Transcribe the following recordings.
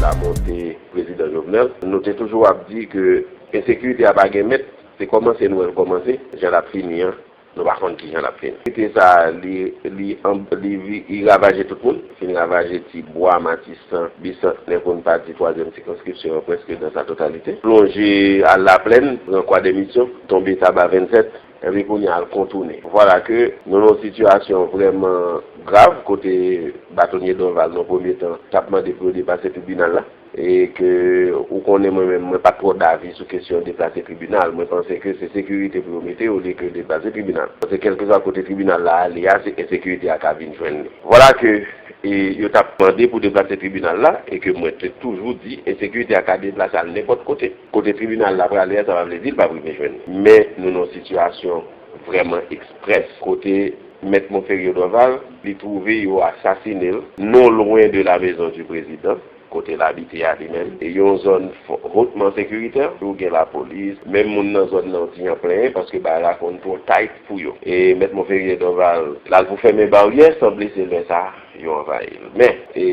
Lamothe prezidan Jovenel nou te toujou ap di ke ensekirite a pa gen mèt se kòmanse nou wè l kòmanse jan lap fini an nou pa konn kijan lap fini ensekirite sa li ravaje tout moun li fin ravaje ti bwa matisan bisantnè pou n pa di twazyèm sikonskripsyon an prèske dan sa totalite plonje al laplèn pran kwadèmisyon tonbe taba 27. Epi kounye a l kontounen. Vwala ke nou nan yon sitiyasyon vrèman grav kote Batonye Dorval nan premye tan t ap mande pou yo deplase tribinal la. E ke ou konnen mwen menm mwen pa t twò davi sou kesyon deplase tribinal. Mwen panse ke se sekirite pou yo mete olye ke deplase tribinal. Paske kèlkeswa kote tribinal la ale a se ensekirite a ka vin jwenn li. Vwala ke yo t ap mande pou deplase tribinal la e ke mwen te toujou di ensekirite a ka deplase al nenpòt kote. Kote tribinal la prale a sa pa vle di l pap rive jwenn li. Men nou nan yon sitiyasyon vrèman eksprès kote Mèt Monferrier Dorval li twouve yo asasine l non lwen de la mezon di prezidan kote l abite a li menm e yon zòn hotman sekiritè ou gen lapolis menm moun nan zòn nan di an plenyen paske bagay la konn twò tight pou yo e Mèt Monferrier Dorval l al pou fèmen baryè sanble se lè sa. yo anvayi l. Men, e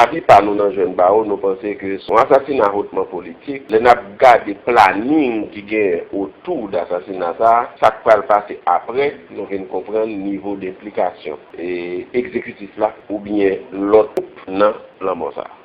avi pa nou nan jèn bawo, nou panse ke s on asasina hotman politik. Lè n ap gade planing ki genyen otou de asasina sa a, sa k pral pase apre, nou vin konprann nivo de enplikasyon e egzekitif la oubyen lòt gwoup nan lanmò sa a.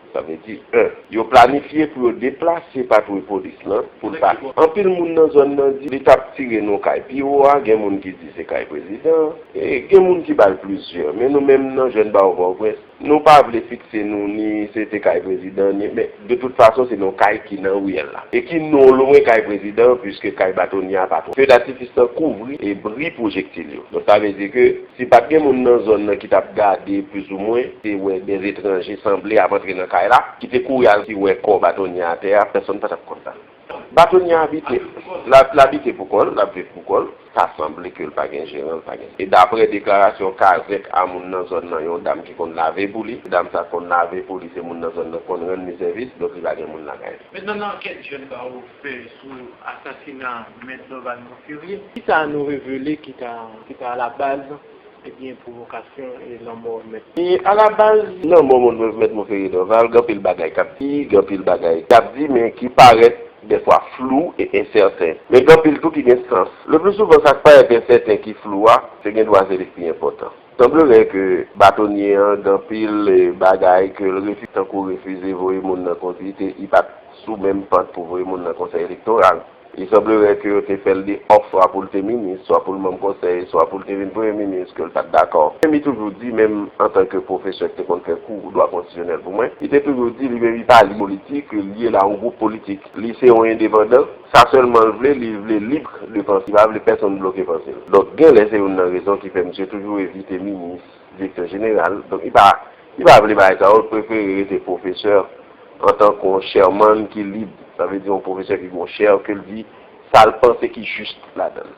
Sa vle di 1. Yo planifye pou yo deplase patwouy polis lan pou l pa. Anpil moun nan zòn nan di li t ap tire nou kay pi wo a, gen moun ki di se kay prezidan an, e gen moun ki ba l plizyè. Men nou menm nan Jèn Bawo Pòtoprens, nou pa vle fikse nou ni se te kay prezidan ni, men de tout fason se yon kay ki nan riyèl la e ki non lwen kay prezidan an puiske kay batonye a pa twò. Fedatifis lan kouvri e bri pwojektil yo. Donk sa vle di ke Si pat gen moun nan zòn nan ki tap gade plis ou mwen te wè de etranje sanble ap antre nan kay la ki te kouri al ti wè kò Batonye atè a pèsòn pa tap kwè sa. Batonye abite l abite pou kò l, l ap viv pou kò l, sa sanble ke l pa gen jeran, l pa gen sa. E daprè deklarasyon kazèk a moun nan zòn nan yon dam ki konn lave pou li, dam sa konn lave pou li se moun nan zòn nan k konn rann li sèvis donk li pa gen moun lakay li. Metenan nan ankèt jèn bawo. fè sou asasina Mèt Dorval Monferrier. Kisa nou revele ki ta alabaz ebyen pwovokasyon e lanmò Mèt. Alabaz lanmò Mèt Monferrier Dorval, gen anpil bagay k ap di, gen anpil bagay k ap di men ki parèt dèfwa flou e ensèten. Men gen anpil tou ki gen sans. Leplisouvan sa k parèt ensèten, ki flou a, se gendwa se li k pi enpòtan. Sanblere ke batonye an gen anpil bagay ke l refize tankou refize voye moun nan konsi te i pat sou menm pant pou voye moun nan konsèy elektoral. Li sanblere ke yo te fè l de òf swa pou l te minis, swa pou l manm konsèy, swa pou l te vin premye minis ke l pat dakò. Menm li toujou di, menm antan ke pwofesè ki te konn fè kou dwa konstitisyonèl pou mwen, li te toujou di li menm li pa lye politik, li lye la yon gwoup politik. Li se yon endepandan. Sa sèlman l vle, li vle libr de panse, li pa vle pèsonn bloke panse l. Donk genlè se youn nan rezon ki fè misye toujou evite minis, direktè jeneral, donk li pa li pa vle bagay sa yo, l prefere rete pwofesè antanke yon chairman ki lib, sa vle di yon pwofesè ki gen yon chair ke l di sa l panse ki just ladan l.